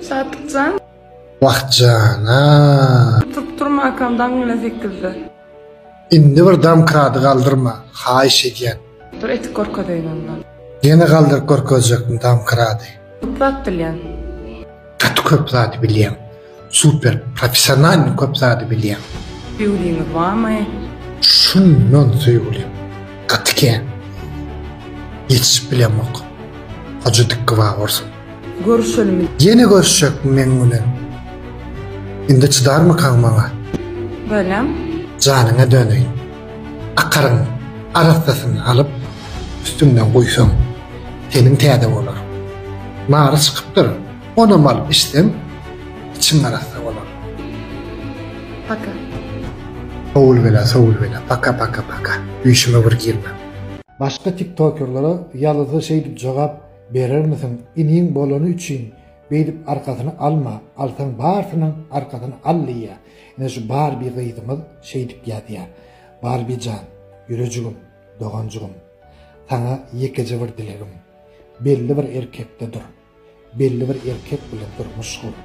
Şatykjan. Wah jana. Turup turmakam daň bilen sekizde. Indi bir domkrady galdyrma haýyş edýän. Dur etik görkezeýin onda. Ýene galdyryp görkezjekmi domkrady. Köp zat bilýän. Gaty köp zady bilýän. Super professionalny köp zady bilýäň. Söýgüliňiz barmy? Şundan söýgülim gaty kän. Ýetişip bilemok. Hoja dikgi bar bolsun. Görüşelimi. Ýene görüşjekmi meň bilen? Indi çydarmykaň maňa? Bölem. Janyňa döneýin. Akaryň arassasyny alyp üstüňden guýsaň seniň täze bolar. Mary çykypdyr. Onamal içseň içiň arassa bolar. Paka. Sowul bela sowul bela paka paka paka düýşüme bir girme. Başga tiktokerlere ýazysa şeýdip jogap berermisiň iniň bolany üçin beýdip arkasyny alma alsaň barsynyň arkasyny al diýýä ine şu barbi gyzymyz şeýdip ýazýa barbijan ýürejigim doganjygym saňa ýekeje bir dilegim belli bir erkekde dur Belli bir erkek bile durmuş gur.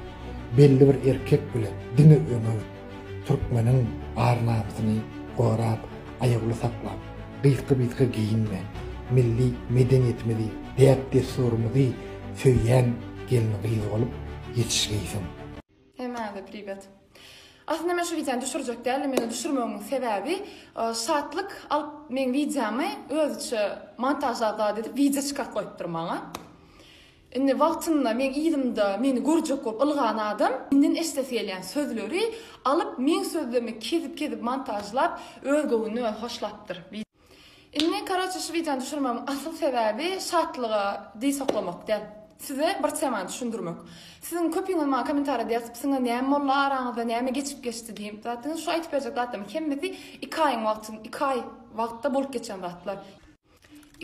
Belli bir erkek bile diňe öňe git. Türkmeniň ar-namsyny gorap, aýawly saklap, gysga-bysga geýinme. Milli medeniýetimizi, däp-dessurymyzy söýýän gelin-gyz bolup ýetişgeýsiň. Hemäňize priwet. Aslynda men şu wideony düşürjek däldim, ýöne düşürmegimiň sebäbi Şatlyk alyp meň wideomy özüçe montažlap zat edip wideo çykak goýupdyr maňa. Indi wagtynda meň yzymda meni görjek bolup ylgan adam menden eşidesi gelýän sözleri alyp meň sözlerimi kezip-kezip montažlap öz göwnüne özi hoşlapdyr. Indi karaçe şu wideony düşürmegiň asyl sebäbi şatlyga diz soklamak däl. Size bir temany düşündirmek. Siziň köpüňiz maňa kommentariýada ýazypsyňyz näme boldy araňyzda näme geçip geçdi diýip zat diňiz şu aýtyp berjek zatlaryň hemmesi iki aýyň wagtyň iki aý wagtda bolup geçen zatlar.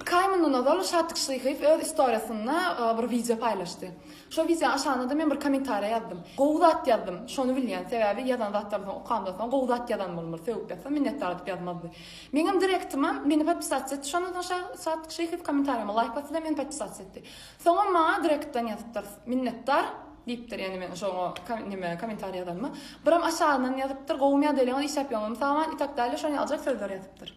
Iki aý mundan ozal Şatyk Şyhyýew öz istoriýasynda bir wideo paýlaşdy. Şo wideony aşanda-da men bir kommentariýa ýazdym. Gowy zat ýazdym. Şony bilýän. Sebäbi ýazan zatlaryny soň okamdan soň gowy zat ýazan bolmaly. Sögüp ýazsam minnetdar diýip ýazmazdy. Meňem direktima meni podpisats et şondan soň şa Sadyk Şeýhow komentariýama laýk basdy-da meni podpisats etdi. Soňam maňa direktdan ýazypdyr Minnetdar diýipdir ýani meniň şo neme komentariý ýazanyma. Biram aşagyndan ýazypdyr Gowumy ýagdaýlaryňyz işläp ýöňümi saman itak däl-de şony aljak sözler ýazypdyr.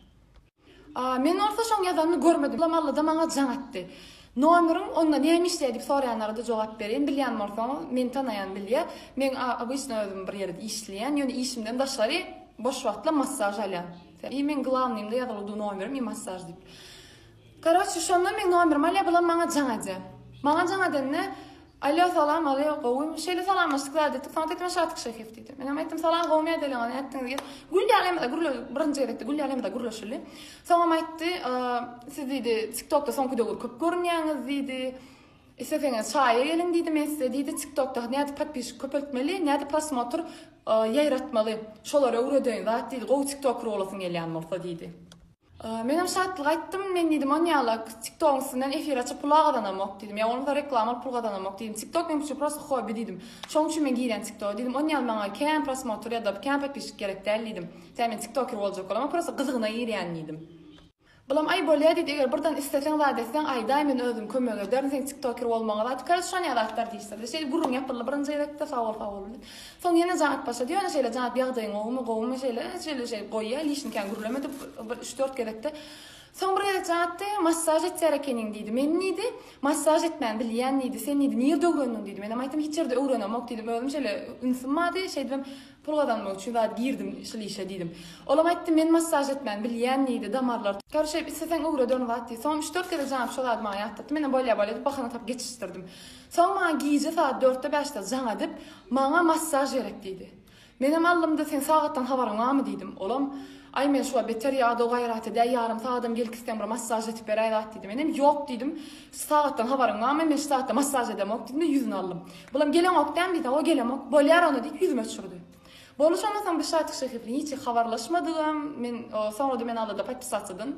Men bolsa şoň ýazanyny görmedim. Soňam Allada maňa jaň etdi. Nomeriň onda näme işleýär diýip soraýanlara-da jogap berýin. Bilýän bolsaň, meni tanaýan bilýär. Men obysna özüm bir ýerde işleýän, ýöne işimden daşgary boş wagtlar massaž alýan. I meň glawnyýmda ýazylyp dur nomerim i massaž diýip. Karoçi, şonda meň nomerimi alýar, bulam maňa jaň edýär. Maňa jaň edende, Alýo salam alýo gowymy şeýle salamlaşdyk zat etdik soňat aýtdyma şatyk şeýhef diýdi menem aýtdym salam gowymy ýadeleňiz nätdiňiz diýip gül ýalemizda gürle birinji gezekde gül ýalemizda gürleşildi soňam aýtdy siz diýdi tiktokda soňky döwür köp görünýäňiz diýdi isleseňiz çaýa geliň diýdi men size diýdi tiktokda nädip podpişik köpeltmeli nädip prosmotr ýaýratmaly şolary öwredeýin zat diýdi gowy tiktoker bolasyň gelýän bolsa diýdi. Men hem şatlyk aýtdym. Men diýdim, Ony ýala TikTok-yň üstünden efir açyp pula gazanamok diýdim. Ýa ony-da reklama alyp pul gazanamok diýdim. TikTok meň üçin prosta hobbi diýdim. Şonuň üçin men girýän TikTok-a diýdim. Ony ýaly maňa kän prosmotr ýa-da kän podpisçik gerek däl diýdim. Tä men TikToker boljak bolam, a prosta gyzygyna girýän diýdim. Bulam aý bolýa diýdi, eger birden isleseň zat etseň aýdaý men özüm kömek ederin seň TikToker bolmaňa zat. Kaç şon ýa zatlar diýişdirdi. Şeýdip gürrüň ýapyldy birinji gezekde, sag bol sag bol diýip. Soň ýene janyp başlady. Ýöne şeýle janyp ýagdaýyň gowumy, gowumy şeýle, şeýle şeý goýýa, hiç nikäni gürlemedi bir üç-dört gezekde. Soň bir gezek janypdy, massaž etýär ekeniň diýdi. Men diýdi, massaž etmäni bilýän diýdi. Sen diýdi, nirde öwrendiň diýdi. Menem aýtdym, hiç ýerde öwrenemok diýdim. Özüm şeýle ünsim bardy, şeýdibem pul gazanmak üçin zat girdim şul işe diýdim. Olam aýtdy, men massaž etmäni bilýän diýdi, damarlar tor şeýdip isleseň öwrederin zat diýdi. Soňam üç-dört gezek janyp şo zady maňa ýatlatdy. Menem bolýa-bolýa diýip bahana tapyp geçişdirdim. Soň maňa gije sagat dörtde-bäşde jaň edip, Maňa massaž gerek diýdi. Menem alnymda Seň sagatdan habaryň barmy diýdim. Olam, Aý men şuwa beter ýadaw gaýrat edäý, ýarym sagadam gelip gitseň bir massaž etip beräý zat diýdi. Menem, Ýok diýdim. Sagatdan habaryň barmy? Men şu sagatda massaž edemok diýdim-de ýüzüni aldym. Bulam, Geleňok dämi diýdi. Hawa gelemok. Bolýar onda diýip ýüzüme çürdi. Bolmuş ondan soň Bişatyk Şehipli hiç habarlaşmadygym, men soňra-da men alada podpisatsydan,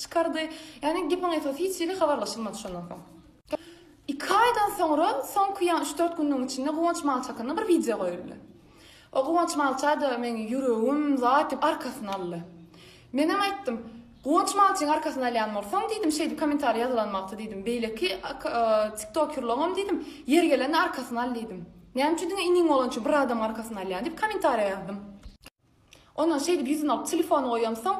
Çykardy. Ýagny gepiň esasy hiç ýeri habarlaşylmady şondan soň. Iki aýdan soňra soňky ýa üç-dört günüň içinde Guwanç Malçy hakynda bir wideo goýuldy. O Guwanç Malça-da meň ýüregim zat diýip arkasyny aldy. Menem aýtdym, Guwanç Malçyň arkasyny alýan bolsaň diýdim, şeýdip kommentariý ýazylan wagty diýdim, beýleki tiktokýurlaňam diýdim, ýeri gelende arkasyny al diýdim. Näme üçin diňe iniň bolança bir adamyň arkasyny alýaň diýip kommentariý ýazdym. Ondan şeýdip ýüzüni alyp telefony goýamsoň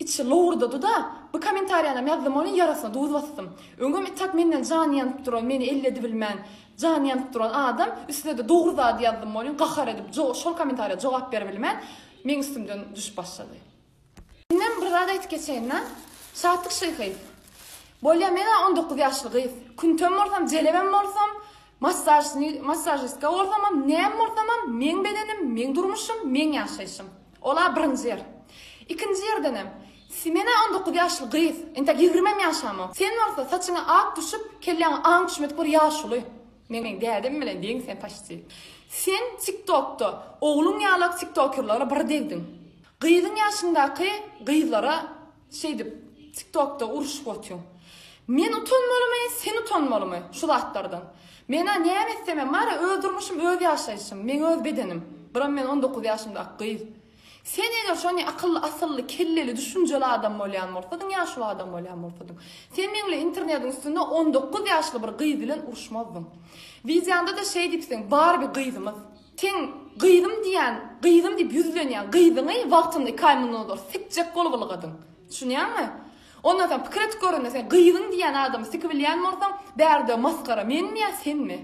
içi lowurdady-da, Bu kommentariýanam ýazdym welin ýarasyna duz basdym. Öňem itak menden jany ýanyp duran, meni elledibilmän jany ýanyp duran adam, üstüne-de dogry zady ýazdym welin gahar edip şol kommentariýa jogap beribilmän meň üstümden düşüp başlady. Indem bir zat aýtyp geçeýin-dä. Şatlyk şyhy. Bolýa men-ä on dokuz ýaşly gyz. Küntem bolsam, jelebem bolsam, massažni, massažistka bolsamam, näme bolsamam, meň bedenim, meň durmuşym, meň ýaşaýşym. Ol-a birinji ýer. Ikinji ýerdenem, s men-ä on dokuz ýaşly gyz. Entek ýigrimem ýaşamok. Sen bolsa saçyňa ak düşüp, kelläňe aň düşmedik bir ýaşuly. Meniň dädem bilen deň sen paşti. Sen tik tokda ogluň ýalak tik tokerlara bir degdiň. Gyzyň ýaşyňdaky gyzlara şeýdip tik tokda uruşyp otyň. Men utanmalymy sen utanmalymy şu zatlardan. Mena näme etsem hem bara öz durmuşym öz ýaşaýşym meň öz bedenim. Buram men on dokuz ýaşymdaky gyz. Sen eger şony akylly asylly kelleli düşünjeli adam bolýan bolsadyň ýa şu adam bolýan bolsadyň sen meňle internediň üstünde on dokuz ýaşly bir gyz bilen uruşmazdyň wideoňda da şeý diýipsiň barby gyzymyz seň gyzym diýýän gyzym diýip ýüzlenýän gyzyňy wagtynda iki aý mundan ozal sikjek bolup ylgadyň düşünýäňmi ondan soň pikir edip görende sen gyzyň diýýän adamy sikibilýän bolsaň bärde masgara menmi ýa senmi.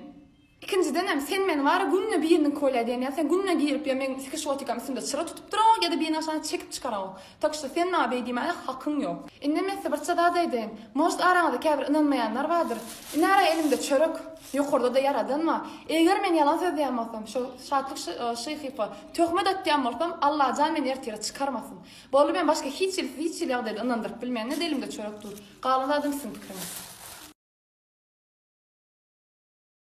Ikinjidenem sen meni wara günde biriniňki bolýa diýen ýaly sen günde girip ýa meň sikiş gotikam üstümde çyra tutup duragok ýa-da biriniň aşagyna çekip çykaragok. Tak şta sen maňa beý diýmäne hakyň ýok. Indem ýa-da bir zat aýdaýyn. Может araňyzda käbir ynanmaýanlar bardyr. Iner-ä elimde çörek. Ýokarda-da ýaradan bar. Eger men ýalan sözleýän bolsam, şo Şatlyk şyhypa töhmet atýan bolsam Allajan meni ertire çykarmasyn. Boldy meni başga hiç hili siz hiç hili ýagdaýda ynandyryp bilmeňiz elimde çörek dur. Galan zadam siziň pikiriňiz.